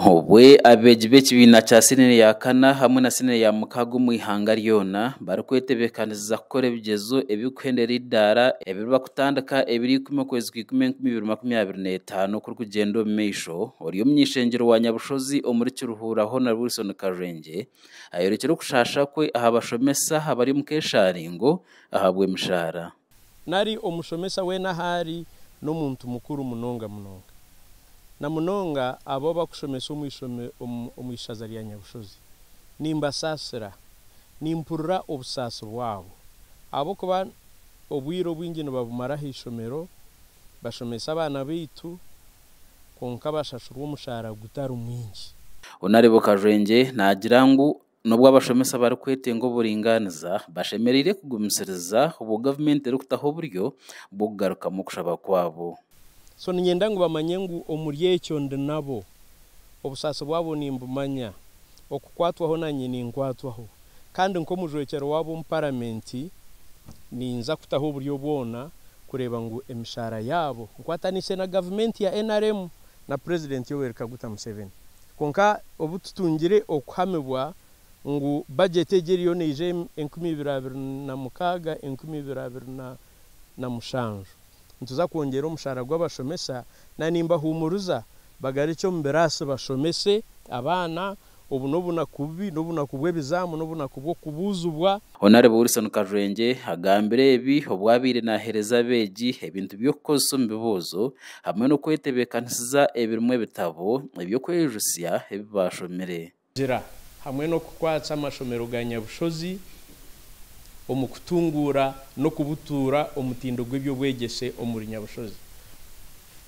Obwo abeegi b'ekibiina kya siniya ya kana hamwe na siniya ya mukaaga omu ihanga ryona barikwetebeekanisiza kukora ebigyezo ebirikuhenda eri eidaara ebiriba kutandika Ebiri ikumi okwezi kwa ikumi enkumi ibiri makumi abiri n'etaano okurikugyenda omu maisho, ori omuny'eishengyero wa Nyabushozi omuri Kiruhura Hon Wilson Karwengye ayorekire okushaasha kwe aha bashomesa abari omu keeshaaringo ahabw'emishaara. nari omushomesa weena ahu ari n'omuntu mukuru munonga munonga, na munonga abo abakushomesa omu ishaza rya Nyabushozi. Nimbasaasira. Nimpurira obusaasi bwabo ahabw'okuba obwire obwingi nibabumara aha ishomero bashomesa abaana baitu kwonka bashashurwa omushaara gutari mwingi. Honorable Kajwengye naagira ngu N'obu abashomesa barikwetenga oburingaaniza, bashemereire kugumisiriza obwo gavumenti erikutaho oburyo bw'okugarukamu okushaba kwabo. So niinyenda ngu bamanye ngu omuri ekyo ndi nabo. Obusaasi bwabo nimbumanya. Okukwatwaho naanye ninkwatwaho. Kandi nk'omujwekyerwa waabo omu Paramenti, ninza kutaho oburyo bwona kureeba ngu emishaara yaabo, nkwataniise na gavumenti ya nrm na Purezidenti Yoweri Kaguta Museveni, Kwonka obu tutungire okuhamibwa ngu bagyeti egi eriyo neija enkumi ibiri abiri na mukaaga enkumi ibiri abiri na mushanju, nituza kwongyera omushaara gw'abashomesa na nimbahuumuriza bagarukye omu biraasi bashomese abaana, obu n'obunaku bubi, n'obunaku bw'ebizaamu, n'obunaku bw'okubuuzibwa. Honarebo Wilson Karurengye agambire ebi obu abaire nahereza abeegi ebintu by'okukozesa omu bibuuzo hamwe n'okwetebekanisiza ebirimu ebitabo eby'okwejutsya ebi baashomire. Gira hamwe n'okukwatsa amashomero ga Nyabushozi omu kutunguura n'okubutuura omutindo gw'eby'obwegyese omuri Nyabushozi.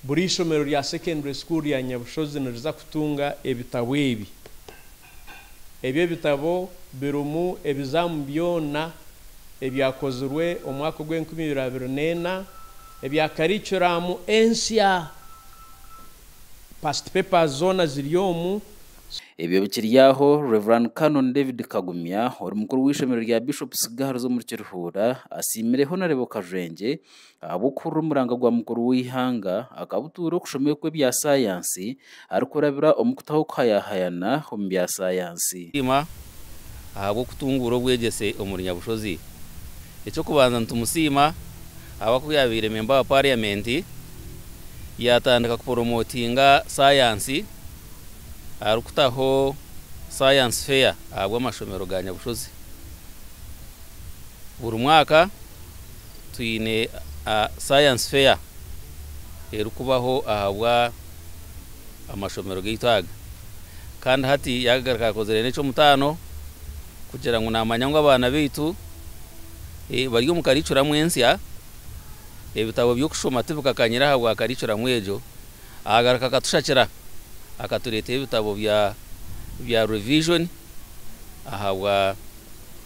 Buri ishomero rya Secondary School rya Nyabushozi niriza kutunga ebitabo ebi. Ebi ebitabo birimu ebizaamu byona ebyakozirwe omu mwaka ogw'enkumi ibiri abiri n'ena ebya karikiramu ensya. Past papers zoona ziri omu. Ebyo bikiri aho, Rev. Canon David Kagumya, ori mukuru w'eishomero rya Bishops Girls omuri Kirihuura, asiimire Honarebo Kajwengye ahabw'okuhurira omuranga gwa mukuru w'eihanga, akabutuura okushomeo kw'ebya sayansi arikurabira omu kutaho okuhayahayana omu bya sayansi. Siima ahabw'okutunguura obwegyese omuri Nyabushozi. Eky'okubanza nitumusiima ahabwa ku yaabaire memba wa pariyamenti, yaatandika kuporomotinga sayansi arikutaho sayansi feya ahabw'amashomero ga Nyabushozi buri mwaka. twine science fair erikubaho ahabwa amashomero gaitu aga Kandi hati yagaruka yakozire nekyomutano kugira ngu namanya ngu abaana baitu bari omu karicuramu ensya ebitabo byokushoma tibikakanyire ahabwa karicuramu egyo agaruka akatushakira akaturetera ebitabo bya revision ahabwa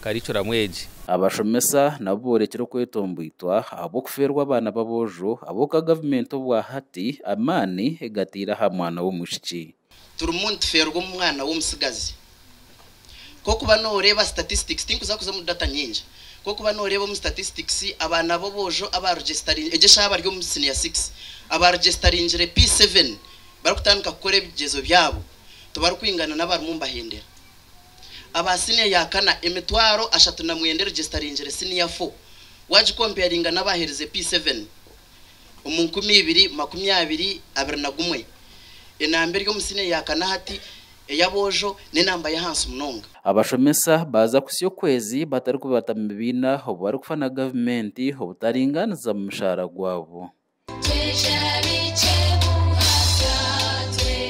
karikuramu egi. Abashomesa nabo boorekire okwetomboitwa ahabw'okufeerwa abaana b'aboojo ab'oka gavumenti obwa hati amaani egataire aha mwana w'omwishiki. Turimu nitufeerwa omu mwana w'omutsigazi. Kwokuba noreeba statistics, tinkuza kuza omu data nyingi, kwokuba noreeba omu statistics abaana b'obwojo aba registaringi, egyo eshaaha bari omu senior six, aba registaringire P seven barikutandika kukora ebigyezo byabo tibarikwingana n'abarimu nibahendera. aba siniya ya kana emitwaro ashatu na mwenda erijisitaringire siniya fo wagikompeyaringa n'abaherize P7 omu nkumi ibiri makumi abiri abiri na gumwe. Enamba eri omu siniya ya kana hati eya bwojo n'enamba y'ahansi munonga. Abashomesa baaza kutsya okwezi batarikubata mu bibiina obu barikufa na gavumenti obutaringaaniza mu mushaara gwabo. Twija bikye buhaga twe